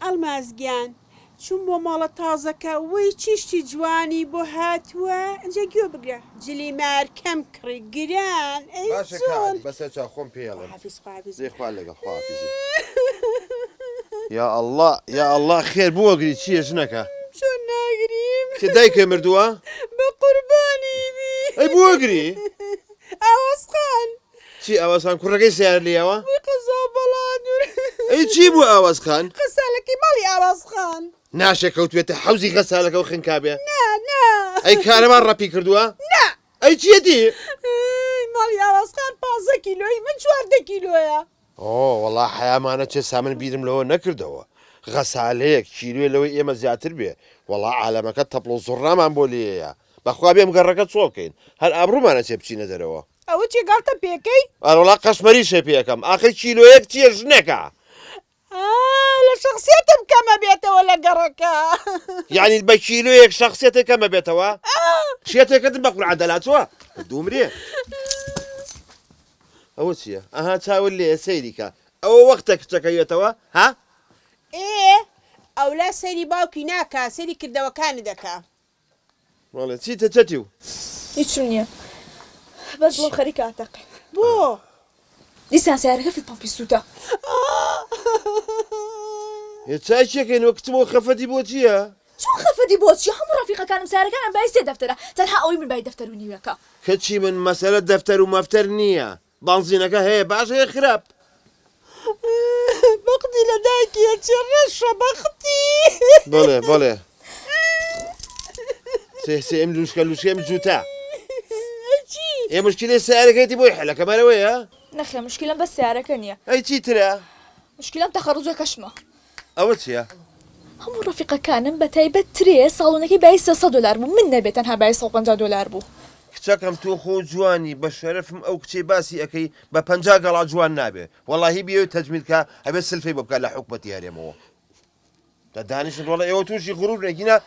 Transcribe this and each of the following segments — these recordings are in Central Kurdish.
ئەڵماز گیان چووم بۆ مۆڵە تازەکە وەی چی شتی جوانی بۆ هاتووە ئینجا گوێ بگرە جلی مارکەم کڕی گران ئەی چۆن. باشە کاک بەسەر چاو خۆم پێ ئەڵێم دەی خوا لەگەڵ خواحافیزی. یااللە یااللە خێر بوەگری چیە ژنەکە. چۆن ناگریم. کێ دایکێ مردوە. بەقوربانی بی. ئەی بوەگری. ئاوەز خان. چی ئاوەزخان کوڕەکەی سەیارە لێیەوە؟ وی قەزا بەڵادور. ئەی چی بوو ئاوەز خان؟ غەسالەکەی ماڵی ئاوەز خان. ناشێ کەوتبێتە حەوزی غەسالەکە و خنکابێ. نا نا. ئەی کارەبا ڕەپی کردووە؟ نا. ئەی چیەتی؟ ئەی ماڵی ئاوەز خان پانزە کیلۆی من چواردە کیلۆیە. هۆ وەڵا حەیامان ئەچێ سامن بیرم لەوە نەکردەوە غەسالەیەک کیلۆێ لەوەی ئێمە زیاتر بێ وەڵا عالەمەکە تەپڵ و زوڕنامان بۆ لێیە بەخوا بێم گەڕەکە چۆڵ کەین هەر ئابڕوومان ئەچێ بچینە دەرەوە. ئەوە چیە گاڵتە پێکەی. ئەرەوەڵا قەشمەریشێ پێکەم ئاخر کیلۆیەک چیە ژنەکە. ئا لە شەخسیەتم کەمە بێتەوە لە گەڕەکە. یەعنی بە کیلۆیەک شەخسیەتێ کەمە بێتەوە؟ ئا. شێتێکەتم بە قورعان دەلاتوە دومرێ. ئەوە چیە ئەها چاوت لێیە سەیری کە ئەوە وەختە کچەکە یەتەوە ها. ئێ ئەولا سەیری باوکی ناکا سەیری کردەوەکانی دەکا. بەڵێ چیتە چەتی و. هیچم نیە بەس دڵم خەریکە ئەتەقێ بۆ. دیسان سەیارەکە فیت پەمپی سوتە. ئێ چای چیەکەین وە کچم ئەو خەفەتی بۆ چیە. چۆن خەفەتی بۆ چیە هەموو ڕەفیقەکانم سارەکانم بای سێ دەفتەرە تەنها ئەوەی من بای دەفتەر و نیوێکە. کچی من مەسەلە دەفتەر و مەفتەر نیە بەنزینەکە هەیە باش هەیە خراپ. بەقدی لە دایکی ئەچێ ڕەشە بەقدی. بەڵێ بەڵێ سێ سێ ئم لوشکە لوشکە ئم جوتە. ئەی چی؟ ئێ مشکلەی سەیارەکەیەتی بۆی حەلە کەمە لەوەیە؟ نەخێر مشکلەم بەس سەیارەکە نیە. ئەی چی ترە؟ مشکلەم تەخەڕوجەکەشمە. ئەوە چیە؟ هەموو ڕەفیقەکانم بە تایبەت ترێ ساڵۆنەکەی بایی سێ سەد دۆلار بوو من نەبێ تەنها بایی سەد و پەنجا دۆلار بوو. کچەکەم تۆ خۆ جوانی بە شەرەفم ئەو کچەی باسی ئەکەی بە پەنجا گەڵا جوان نابێ وەڵاهی بیەوێ تەجمیل کا ئەبێ سلفی بۆ بکا لە حکومەتی هەرێمەوە دانیشن وەڵا ئێوە توشی غرورن ئەگینا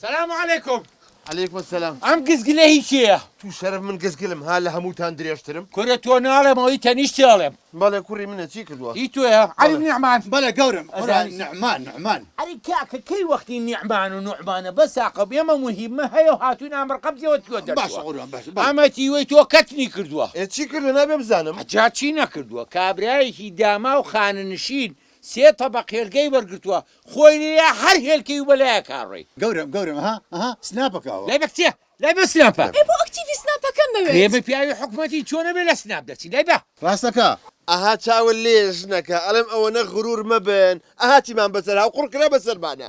سلام علیکم. علیکم السلام. ئەم گزگلە هی کێیە؟ توو شەرەف من گزگلم ها لە هەمووتان درێژترم؟ کورە تۆ ناڵێم ئەوی تەنیشتی ئەڵێم. بەڵێ کوڕی منە چی کردووە؟ هی تۆیە عەلی نعمان؟ بەڵێ گەورەم ئەزانی نعمان نعمان. ئەرێ کاکە کەی وەختی نیعمان و نوعمانە بەس ئاقڵ ئێمە موهیمە هەیە و هاتووین ئامر قەبزیەوە تۆ دەرچووە باشە قوربان باشە بەڵێ. ئەمە تیوەی تۆ کەتنی کردووە. ئێ چی کردووە نابێ بزانم. جا چی نەکردووە کابرایەکی داماو خانەنشین سێ تەبەق هێلکەی وەرگرتووە خۆی لێیە هەر هێلکەی و بەلای ئەکا ڕێی. گەورەم گەورەم ئەها ئەها سناپەکە ئەوە. لای بە کچێ لای بە سناپە. ئەی بۆ ئەکتیڤی سناپەکەم مەوێت. ئێمە پیاوی حکومەتین چۆن ئەبێ لە سناپ دەچین لای بە. ڕاستەکا. ئەها چاوە لێ ژنەکە. ئەڵێم ئەوەنە غرور مەبن ئەها چیمان بەسەر هاو قوڕ کرا بەسەرمانا.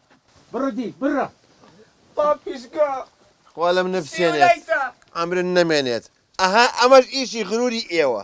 بڕە دی بڕە پاپیشگا خوا لەم نەپسێنێت عەمرن نەمێنێت ئەها ئەمەش ئیشی غروری ئێوە.